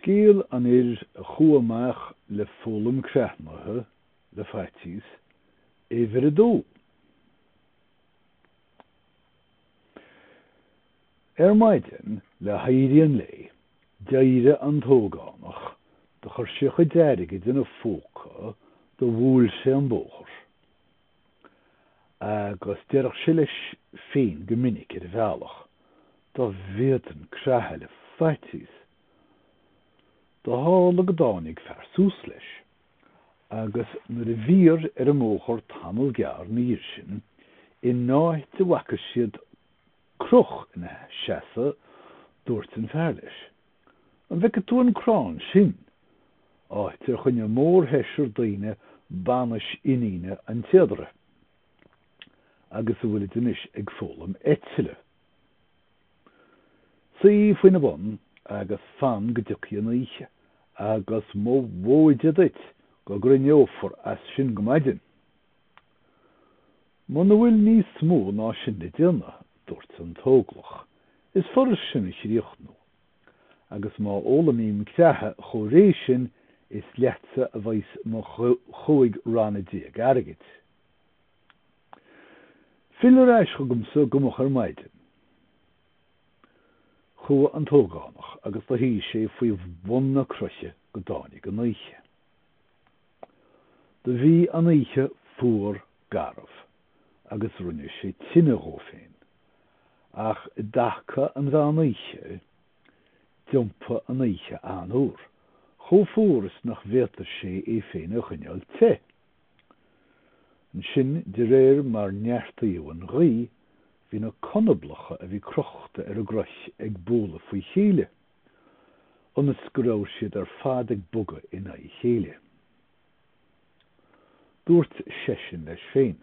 Scéal an fhir a chuaigh amach le foghlaim creathnaithe le faitíos, uimhir a dó. Ar maidin le héirí an lae, d'éirigh an t-ógánach, do chuir sé a chuid airgid ina phóca, do bhuail sé an bóthar. Agus deireadh sé leis féin go minic, ar a bhealach, 'Dá bhféadfainn creathadh le faitíos! Do tharla go dtáinig fear suas leis, agus nuair a bhíodar ar an mbóthar tamall gearr 'na dhiaidh sin, in áit a bhfaca siad croch ina sheasamh, dúirt an fear leis, An bhfeicfidh tú an crann sin? Áit ar choinnigh mórsheisear daoine banais iníne an téadaire, agus a bhfuilid anois ag foghlaim eitile. Suigh faoina bun agus fan go dtiocfaidh an oíche, agus mo mhóide duit go gcrithneochair as sin go maidin! Muna bhfuil níos mó ná sin le déanamh, dúirt an tÓglach, is furast sin a chríochnú. Agus má fhoghlaimím creathadh chomh réidh sin, is leatsa a bheas mo chúig ranna déag airgid. Fill ar ais chugamsa go moch ar maidin. Chuaigh an tÓgánach agus do shuigh sé faoi bhun na croiche go dtáinig an oíche. Do bhí an oíche fuar garbh agus rinne sé tine dhó féin. Ach i dtaca an mheán oíche, d'iompaigh an oíche an-fhuar, chomh fuar is nach bhféadfadh sé é féin a choinneáil te. Ansin, de réir mar neartaíodh an ghaoth, bhí na conablacha a bhí crochta ar a gcroich ag bualadh faoi chéile. ionas go raibh siad ar fad ag bogadh in aghaidh a chéile. Dúirt seisean leis féin,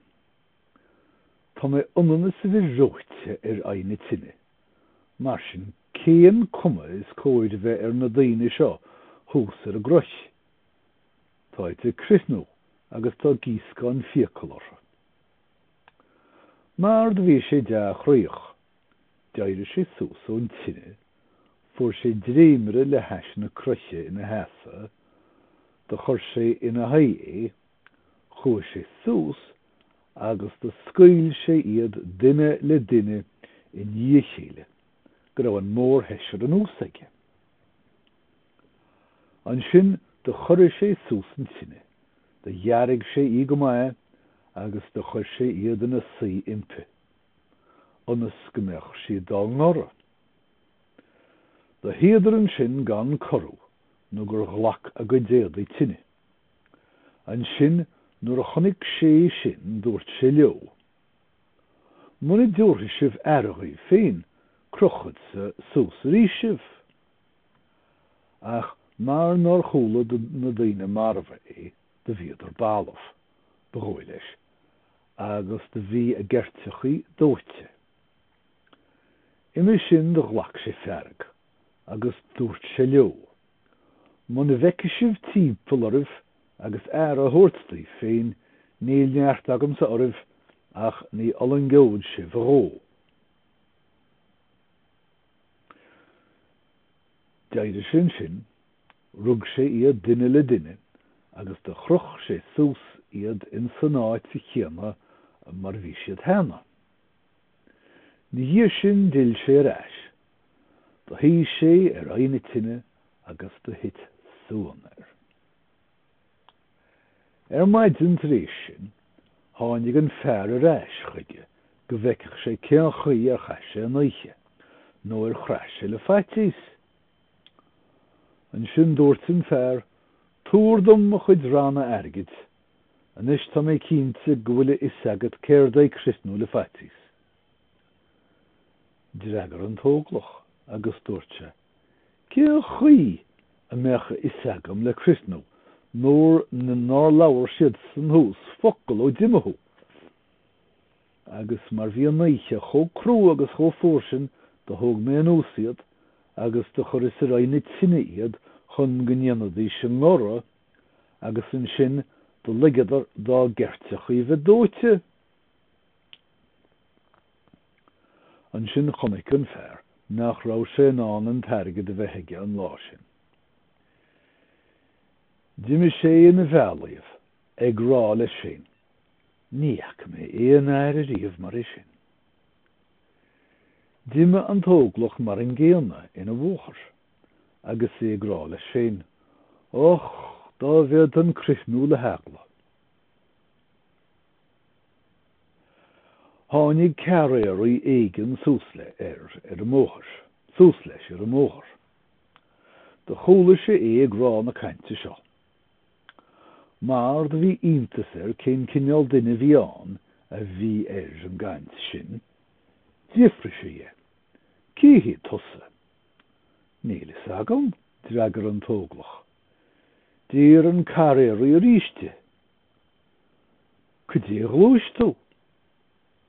Tá mé ionann is a bheith reoite ar aghaidh na tine, mar sin cén cuma is cóir a bheith ar na daoine seo thuas ar an gcroich? Táid ag crithnú agus tá gíoscán fiacal orthu. Mar do bhí sé dea-chroíoch. D'éirigh sé suas ón tine, fuair sé dréimire le hais na croiche ina sheasamh, do chuir sé ina haghaidh é, chuaigh sé suas agus do scaoil sé iad duine le duine i ndiaidh a chéile go raibh an mórsheisear anuas aige. Ansin do chorraigh sé suas an tine, do dhearg sé í go maith agus do chuir sé iad ina suí uimpi. ionas go mbeadh siad dá ngoradh. Do shuíodar ansin gan corrú nó gur ghlac a gcuid éadaigh tine. Ansin nuair a chonaic sé é sin dúirt sé leo, Muna dtabharfaidh sibh aire dhaoibh féin, crochfadsa suas arís sibh. Ach mar nár chuala na daoine marbha é, do bhíodar balbh, ba dhóigh leis, agus do bhí a gceirteachaí dóite. Uime sin do ghlac sé fearg agus dúirt sé leo, Muna bhfeicfidh sibh timpeall oraibh agus aire a thabhairt daoibh féin, níl neart agamsa oraibh ach ní fhulaingeod sibh a dhó. D'éirigh sé ansin Rug sé iad duine le duine agus do chroch sé suas iad in san áit chéanna mar bhí siad cheana. Ina dhiaidh sin d'fhill sé ar ais. Do shuigh sé ar aghaidh na tine agus do thit suan air. Ar maidin tar éis sin tháinig an fear ar ais chuige go bhfeicfeadh sé cén chaoi ar chaith sé an oíche, nó ar chraith sé le faitíos. Ansin dúirt an fear, Tabhair dom mo chuid ranna airgid. Anois tá mé cinnte go bhfuil a fhios agat céard é criothnú le faitíos. D'fhreagair an t-óglach agus dúirt sé, Cé chaoi a mbeadh a fhios agam le criothnú nuair nár labhair siadsan thuas focal ó d'imigh thú? Agus mar bhí an oíche chomh crua agus chomh fuar sin do thóg mé anuas iad agus do chuireas ar aghaidh na tine iad chun go ndéanfaidís a ngoradh, agus ansin do ligeadar dá gceirteachaí bheith dóite. Ansin chonaic an fear nach raibh sé in ann an t-airgead a bheith aige an lá sin. D'imigh sé ina bhealaigh, ag rá leis féin. Ní fhaca mé aon fhear riamh mar é sin. D'imigh an t-óglach mar an gcéanna ina bhóthar, agus é ag rá leis féin, Och, dá bhféadfainn criothnú le heagla! Tháinig carraeraí éigin suas le ar ar an mbóthar, suas leis ar an mbóthar. Do chuala sé é ag rá na cainte seo. Mar do bhí iontas air cén cineál duine a bhí ann a bhí ar an gcaint sin. D'fhiafraigh sé dhe, Cé hé tusa? Níl a fhios agam, d'fhreagair an tÓglach. D'iarr an carraeirí arís de, Cad é a ghluais tú?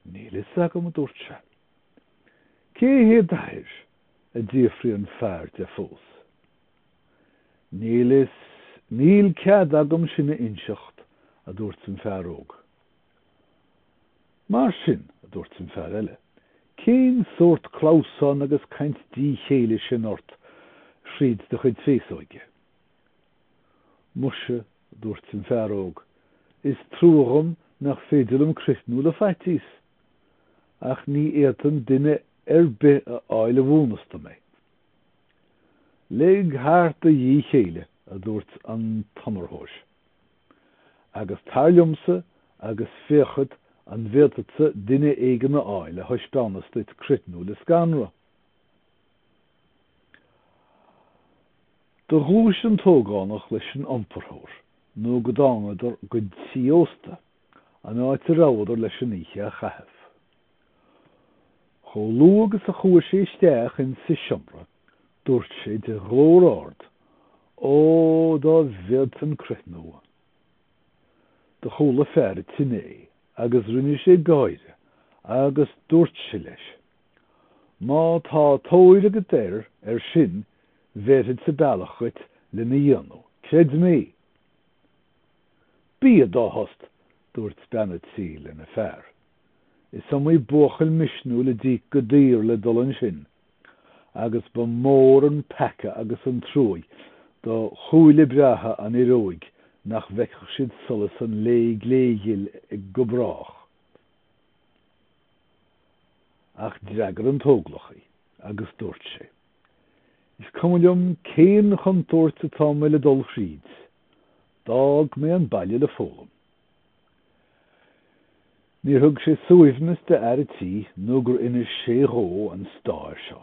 Níl a fhios agam, a dúirt sé. Cé hé d'athair? a d'fhiafraigh an fear de fós. Níl fhios, níl cead agam sin a inseacht, a dúirt an fear óg. Mar sin, a dúirt an fear eile, cén sórt clamhsán agus caint díchéille sin ort thríd do chuid féasóige? Muise, a dúirt an fear óg, is trua dhom nach féidir liom criothnú le faitíos, ach ní fhéadfainn duine ar bith a fháil a mhúineas dom é. Lig thart do dhíth céille, a dúirt an t-iomparthóir, agus tar liomsa agus féachfad an bhféadfadsa duine éigin a fháil a thaispeánas duit criothnú le scanradh. Do ghluais an t-ógánach leis an iomparthóir, nó go dtángadar go tigh ósta, an áit a rabhadar leis an oíche a chaitheamh. Chomh luath agus a chuaigh sé isteach insa seomra, dúirt sé de ghlór ard, 'Ó, dá bhféadfainn criothnú! Do chuala fear a' tí é agus rinne sé gáire agus dúirt sé leis, 'Má tá tóir agat air, ar sin, bhéarfadsa bealach dhuit lena dhéanamh, creid mé! 'Bí i do thost! dúirt bean a' tí lena fear. Is iomaí buachaill misniúil a d'íoc go daor le dul ansin, agus ba mhór an peaca agus an truaigh do shúile breátha an fhir óig nach bhfeicfeadh siad solas an lae gléghil go brách. Ach d'fhreagair an t-óglach í agus dúirt sé, Is cuma liom cén chontúirt atá mé le dul thríd, d'fhág mé an baile le foghlaim. Níor thug sé suaimhneas d'fhear a tí nó gur inis sé dhó an stair seo.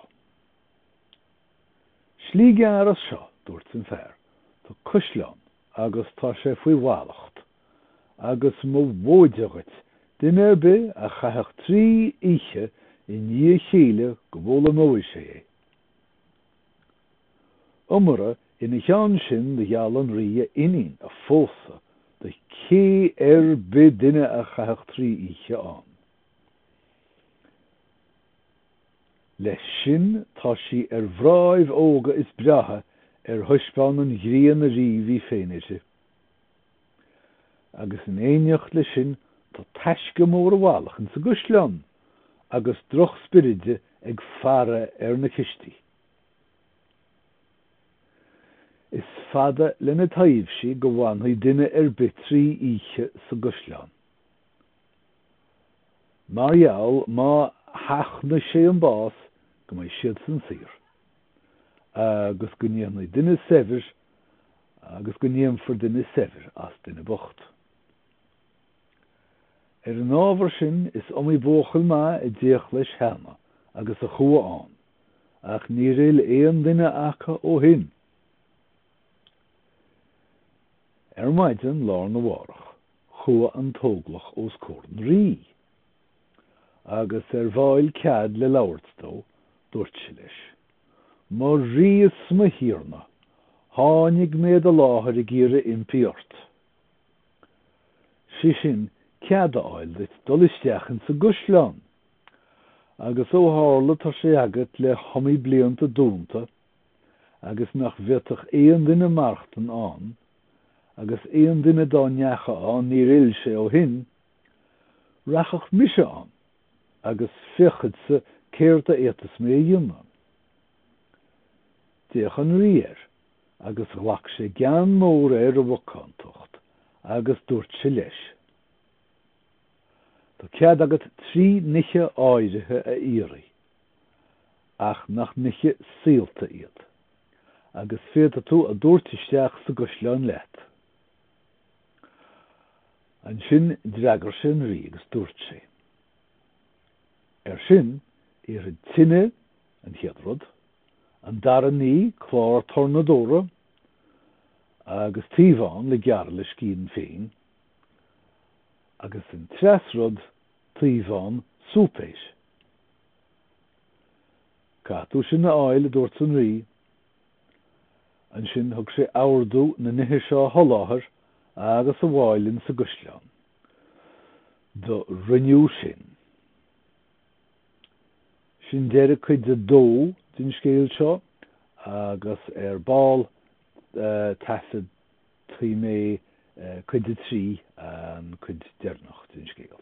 'Slí gearr as seo, dúirt an fear, 'tá caisleán agus tá sé faoi mhallacht, agus mo mhóide dhuit, duine ar bith a chaithfeadh trí oíche i ndiaidh a chéile go bhfoghlaimeoidh sé é. Iomorra ina cheann sin do gheall an rí a iníon a phósadh do cé ar bith duine a chaithfeadh trí oíche ann. Leis sin tá sí ar mhnáibh óga is breátha ar thaispeáin an ghrian ariamh í féin uirthi. Agus in éineacht le sin tá taisce mór i bhfalach insa gcaisleán agus droch-spioraidí ag faire ar na cistí. Is fada lena taibhsí go bhfanfaidh duine ar bith trí oíche sa gcaisleán. Mar gheall, má sheachnaigh sé an bás, go mbeidh siadsan saor. Agus go ndéanfaidh duine saibhir, agus go ndéanfar duine saibhir as duine bocht. Ar an ábhar sin, is iomaí buachaill maith a d'fhéach leis cheana agus a chuaigh ann, ach níor fhill aon duine acu ó shin. Ar maidin lá arna mhárach, chuaigh an t-óglach os comhair an rí, agus ar bhfáil cead le labhairt dó, dúirt sé leis, Mo rí is mo thiarna, tháinig mé i do láthair ag iarraidh impí ort. sé sin cead a fháil duit dul isteach insa gcaisleán, agus ó tharla tá sé agat le hiomaí blianta dúnta agus nach bhféadfadh aon duine maireachtain ann, agus aon duine dá ndeacha ann níor fhill sé ó shin, rachaidh mise ann agus féachfadsa céard a fhéadfas mé a dhéanamh. D'fhéach an Rí air. agus ghlac sé gean mór ar a mhacántacht agus dúirt sé leis, Tá cead agat trí nithe áirithe a iarraidh, ach nach nithe saolta iad, agus féadfaidh tú a dtabhairt isteach sa gcaisleán leat. Ansin d'fhreagair sé an rí agus dúirt sé, Air sin, iarraim tine, an chéad rud, An dara ní, clár tornadóra agus taobhán le gearradh le scian féin, agus an treas rud taobhán súipéis. Caithfidh tú sin a fháil, a dúirt an Rí. Ansin thug sé ordú na nithe seo a sholáthar agus a bhfáil insa gcaisleán. Do rinneadh sin. Sin deireadh cuid a dó den scéal seo agus ar ball taifeadfaidh mé cuid a trí, an cuid deireanach den scéal.